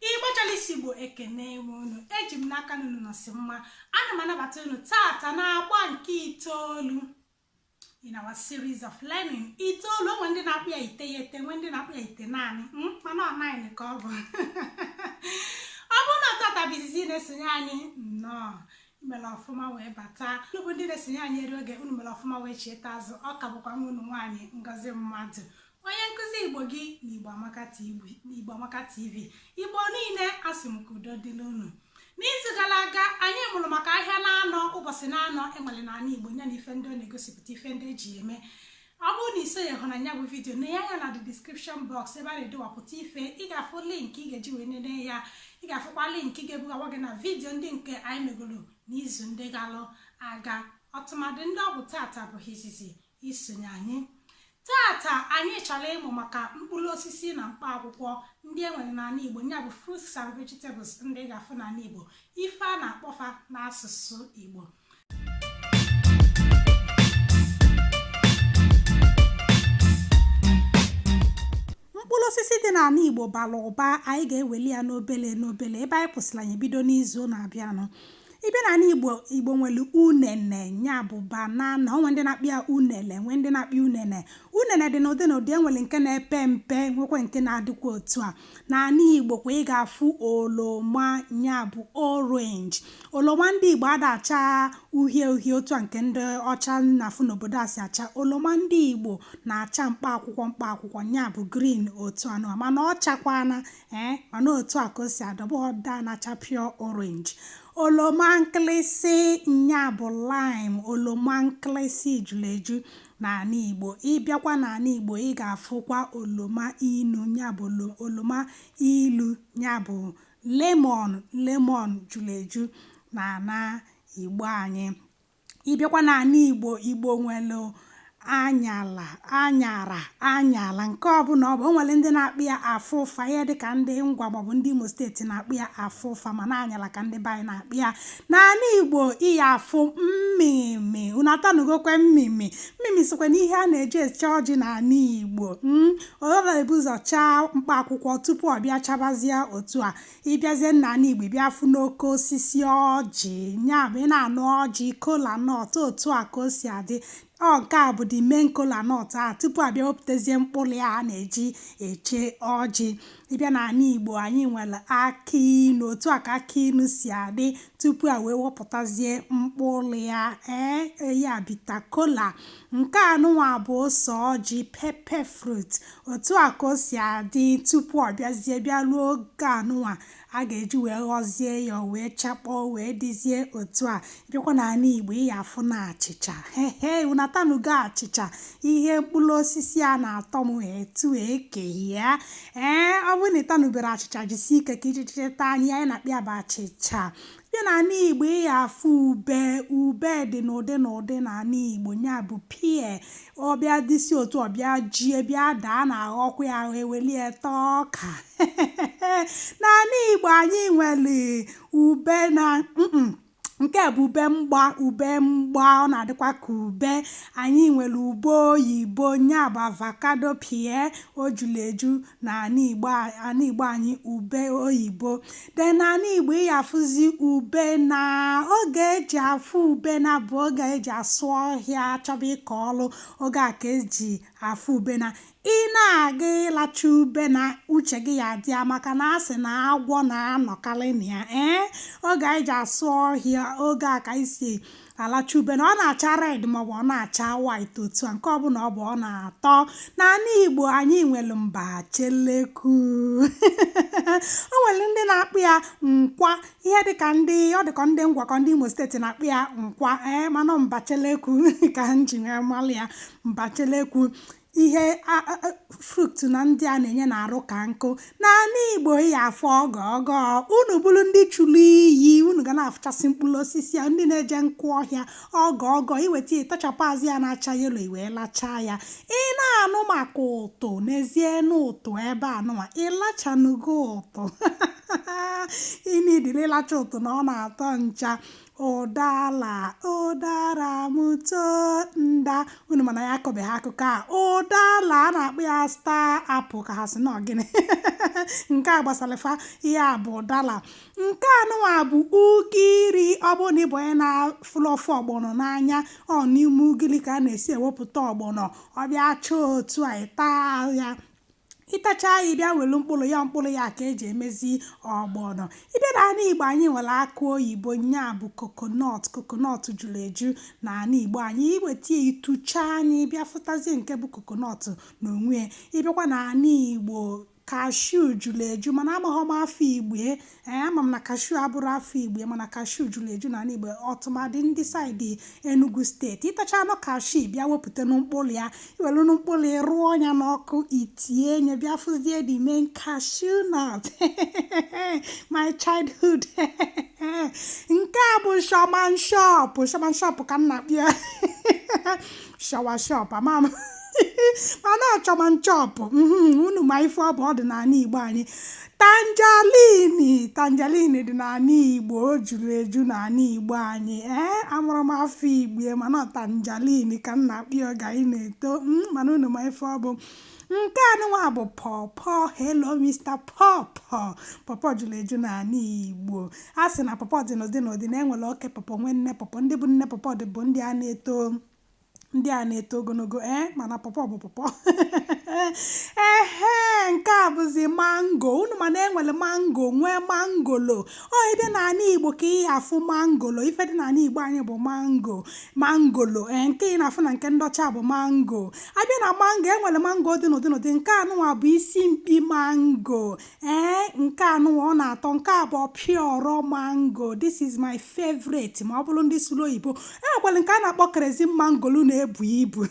igbochọlisi igbo ekene enwe unu eji m n'aka na unu nọsi mma ana m anabata unu taata na agba nke itoolu in our series of learning itoolu o nwee ndị na-akpọ ya iteghete nwee ndị na-akpọ ya itenaanị hmm, mana ọ nine ka ọ bụ ọ bụrụ na taata bụ izizi ị na-esonye anyị nnọọ i mere ọfụma wee bata unu bụ ndị na-esonye anyị eri oge unu mere ọfụma wee chieta azụ ọ ka bụkwa nwa unu nwaanyị ngozi madụ Onye nkụzi Igbo gị na Igbo Amaka TV. Igbo Amaka TV. Igbo niile asị m ka udo dịlị unu. N'izu gara aga, anyị mụrụ maka ahịa naanọ ụbọchị naanọ e nwere n'ala Igbo ya na ife ndị ọ na-egosipụta ife ndị e ji eme. Ọ bụrụ na i sonyehụ na ya bụ vidiyo nee anya na the description box ebe a na-akọwapụta ife ị ga-afụ link ị ga-eji wee nene ya ị ga-afụkwa link ga-ebugawa gị na vidiyo ndị nke anyị megoro n'izu ndị galụ aga tụmadị ndị ọ bụ taata bụ izizi i sonye anyị. Taata anyị chọrọ ịmụ maka mkpụrụ osisi na mkpa akwụkwọ ndị e nwere n'ala Igbo ya bụ fruits and vegetables ndị ị ga-afụ n'ala Igbo ife a na-akpọ fa n'asụsụ Igbo mkpụrụ osisi dị n'ala Igbo bara ụba anyị ga-eweli ya n'obele n'obele ebe anyị kwụsịrị anyị bido n'izu na-abịanụ Ị bịa n'ala Igbo, Igbo nwere unene, ya bụ banana. O nwere ndị na-akpọ ya unele, nwee ndị na-akpọ ya unene. Unene dị n'ụdị n'ụdị. E nwere nke na-epe mpe, nwekwa nke na-adịkwa otu a. N'ala Igbo kwa, ị ga-afụ oroma, ya bụ orange. Oloma ndị Igbo ada acha uhie uhie otu a nke ndị ọcha na-afụ n'obodo a si acha. Oloma ndị Igbo na-acha mkpa akwụkwọ mkpa akwụkwọ, ya bụ green otu anụ a, mana ọ chakwana ee mana otu a ka o si adị ọ bụghị ọ da na-acha pure orange oloma nkịlịsị nya bụ lime oloma nkịlịsị juru eju n'ala igbo ị bịakwa n'ala igbo ị ga-afụkwa oloma inu nya bụ oloma ilu nya bụ lemon lemon juru eju n'ala igbo anyị Ị bịakwa n'ala Igbo, Igbo nwere anyala, anyara, anyala nke ọbụla ọ bụ. O nwere ndị na-akpọ ya afụfa, ihe dị ka ndị Ngwa maọbụ ndị Imo steeti na-akpọ ya afụfa mana anyala ka ndị be anyị na-akpọ ya. N'ala Igbo, ị ya-afụ mmịmị. Unu atanụgokwa mmịmị. Mmịmị sokwa n'ihe a na-eji eche ọjị n'ala Igbo. mm. Ọ na-ebu ụzọ chaa mkpa akwụkwọ tupu ọ bịa chabazie otu a. ị bịazie n'ala Igbo ị bịa fụ n'oke osisi ọjị ya bụ ị na-anụ ọjị kola nut otu a ka o si adị ọ nke a bụ the main kola nut a tupu a bịa wepụtazie mkpụrụ ya a na-eji eche ọjị ị bịa n'ala Igbo anyị nwere akị inu otu a ka akị inu si adị tupu a wee wepụtazie mkpụrụ ya ee ya bitter kola Nke a nụnwa bụ ose ọjị, pepper fruit. Otu a ka o si adị tupu ọ bịazie bịa ruo oge a nụnwa a ga-eji wee ghọzie ya o wee chakpọọ wee dịzie otu a. Ị bịakwa n'ala Igbo ị ya afụ na achịcha. Hehe, unu atanugo achịcha? Ihe mkpụrụ osisi a na-atọ m etu eke ya. Ee, ọ bụrụ na ị tanubero achịcha jisie ike ka ichichiri taa anyị anyị na-akpọ ya bụ achịcha. Bịa n'ala Igbo ị ya afụ ube. Ube dị n'ụdị n'ụdị n'ala Igbo, nya bụ pear. Ọ bịa dịsị otu a ọ bịa jie, bịa daa, a na-aghọkwa ya aghọ, e welu ya taa ọka. N'ala Igbo anyị nwere ube na nke a bụ ube mgba ube mgba ọ na-adịkwa ka ube anyị nwere ube oyibo nya bụ avocado pear o juru eju na ana Igbo anyị ube oyibo then na ana Igbo ị ya afụzi ubene oge eji afụ ubene bụ oge eji asụ ọhịa chọba ịkọ ọlụ oge a ka eji afụ ubene ị na-aga ịlacha ubene uche gị ya adị ya maka na asị na agwọ na-anọkarị na ya ee eh? oge anyị ji asụ ọhịa oge a ka anyị si alacha ubene ọ na-acha red maọbụ ọ na-acha white otu a nke ọbụla ọ bụ ọ na-atọ n'ala Igbo anyị nwere mbacheleku o nwere ndị na-akpọ ya nkwa ihe dịka ndị ọ dịka ndị Ngwa ka ọ ndị Imo steeti na-akpọ ya nkwa ee eh, mana mbacheleku ka m ji wee malụ ya mbacheleku ihe fruit na ndị a na-enye na-arụ ka nkụ n'ana igbo ị ya afụ ọgọ ọgọ unu bụrụ ndị churu iyi unu ga na-afụchasị mkpụrụ osisi a ndị na-eje nkụ ọhịa ọgọ ọgọ iweta ịtachapụ azụ ya na-acha yelo iwee lachaa ya ị na-anụ maka ụtụ neezienụ ụtụ ebe a nụwa ịlachanugo ụtụ ị need ịlacha ụtụ na ọ na-atọ ncha ụdala ụdara m too nda unu mana ya akọbeghị akụkọ a ụdala a na-akpọ ya star apple ka ha sị na ọ gịnị nke a gbasara fa ya bụ ụdala nke a nụnwa bụ ugiri ọ bụrụ na ị bụ onye na-afụlụ ofe ọgbọnọ n'anya ọ n'ime ugiri ka a na-esi ewepụta ọgbọnọ ọ bịa chaa otu a ị taa ya ịtacha ya ịbịa welu mkpụrụ ya mkpụrụ ya ka eji emezi ọgbọnọ ịbịa na ala igbo anyị nwere akụ oyibo nya bụ kokonọt kokonọt juru eju na ala igbo anyị iweta ya ịtụchaa ya ịbịa fụtazie nke bụ kokonọt na onwe ya ịbịakwa na ala igbo kashu juru eju mana amaghị m afa igbo Ee, ama m na kashuu abụrọ afa Igbo mana kashuu juru eju n'ala Igbo ọtụmadị ndị saịdị Enugu steeti. Ịtacha anụ kashuu bịa wepụta mkpụrụ ya, iwelu mkpụrụ ị rụọ ya n'ọkụ itie nye bịa fụzie the main cashew nut my childhood nke a bụ shaman shop shaman shop ka m na-akpọ ya shawa shop ama m mana ọ chọman chọp mhm, unu ma ife ọ bụ ọ dị n'ala Igbo anyị Tanjalini Tanjalini dị n'ala Igbo o juru eju n'ala Igbo anyị ee eh, amarọ m afa Igbo ya, mana tanjalini ka m na-akpọ ya oge anyị na-eto hmm, mana unu ma ife ọ bụ nke anụnwa bụ pọpọ helo mr pọpọ pọpọ juru eju n'ala igbo a sị na pọpọ dị n'ụdị n'ụdị na enwere oke pọpọ nwee nne pọpọ ndị bụ nne pọpọ dị bụ ndị a na-eto ndị a na-eto ogologo ee eh, mana pọpọ bụ pọpọ ehe nke a bụzi mango unu ma na enwere mango nwee mangolo ọ ebe n'ala igbo ka ị ya-afụ mangolo ife dị n'ala igbo anyị bụ mango mangolo ee eh, nke ị na-afụ na nke ndị ọcha bụ mango abịa na mango enwere mango dị n'ụdị n'ụdị nke anụnwa bụ isi mkpi mango ee nke anụwa ọ na-atọ nke a bụ ọpịọrọ mango this is my favorite ma ọ bụrụ ndị sụrụ oyibo enwekwara nke a na-akpọ kerezin mangolo na-ebu ibu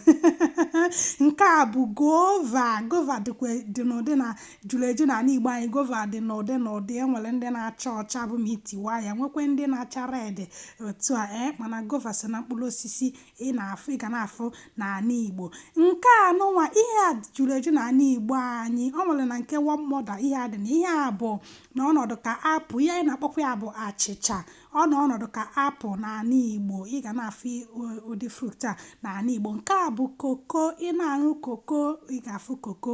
nke a bụ gova gova dịkwa dị n'ụdị na juru eju n'ala igbo anyị gova dị n'ụdị n'ụdị enwere ndị na-acha ọcha bụ ma itiwa ya nwekwa ndị na-acha red otu a ee mana gova so na mkpụrụ osisi ị na-afụ ị ga na-afụ n'ala Igbo nke anụnwa ihe a juru eju na ala Igbo anyị ọ nwere na nke one mother ihe a dị na ihe a bụ na ọnọdụ ka apụl ihe anyị na-akpọkwa ya bụ achịcha ọ nọ ọnọdụ ka apụl n'ala Igbo ị ga na-afụ ụdị fruit a n'ala Igbo nke a bụ koko ị na-aṅụ koko ị ga-afụ koko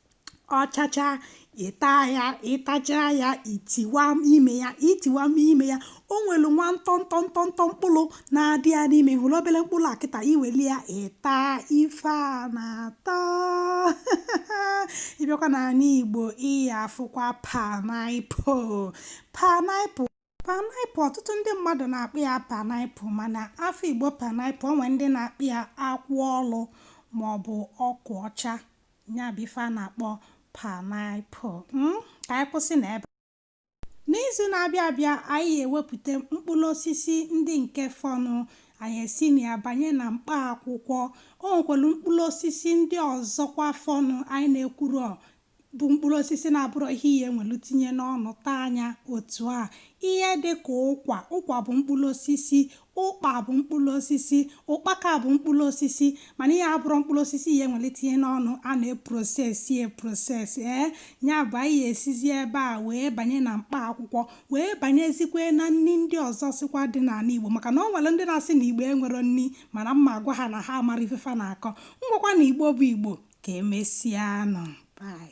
ọ chachaa ịta ya ịtachaa ya itiwa ime ya itiwa ime ya o nwere nwa ntọ ntọ ntọ ntọ mkpụrụ na-adị ya n'ime hụrụ obere mkpụrụ a kịta iweli ya ịta ife a na-atọ ịbịakwa n'ala Igbo ị ya-afụkwa panaịpụl panaịpụl Paịnaịpụl ọtụtụ ndị mmadụ na-akpọ ya paịnaịpụl mana afa Igbo paịnaịpụl o nwee ndị na-akpọ ya akwụ olu maọbụ akwụ ọcha ya bụ ife a na-akpọ paịnaịpụl hmm? ka anyị kwụsị n'ebe a n'izu na-abịa abịa anyị ewepụta mkpụrụ osisi ndị nke fọnụ anyị esi na ya banye na mkpa akwụkwọ o nwekwara mkpụrụ osisi ndị ọzọkwa fọnụ anyị na-ekwurọ bụ mkpụrụ osisi na-abụrọ ihe ị ya-ewelu tinye n'ọnụ taa nya otu a ihe dị ka ụkwa ụkwa bụ mkpụrụ osisi ụkpa bụ mkpụrụ osisi ụkpaka bụ mkpụrụ osisi mana ihe abụrọ mkpụrụ osisi ị ya-ewere tinye n'ọnụ a na-eprosesi eproses ee ya bụ anyị esizi ebe a wee banye na mkpa akwụkwọ wee banyezikwe na nri ndị ọzọ sokwa dị n'ala Igbo maka na ọ nwere ndị na-asị na Igbo enwerọ nri mana m ma-agwa ha na ha amarọ ife fa na-akọ ngwakwa na Igbo bụ Igbo Ka emesịanụ. Bye.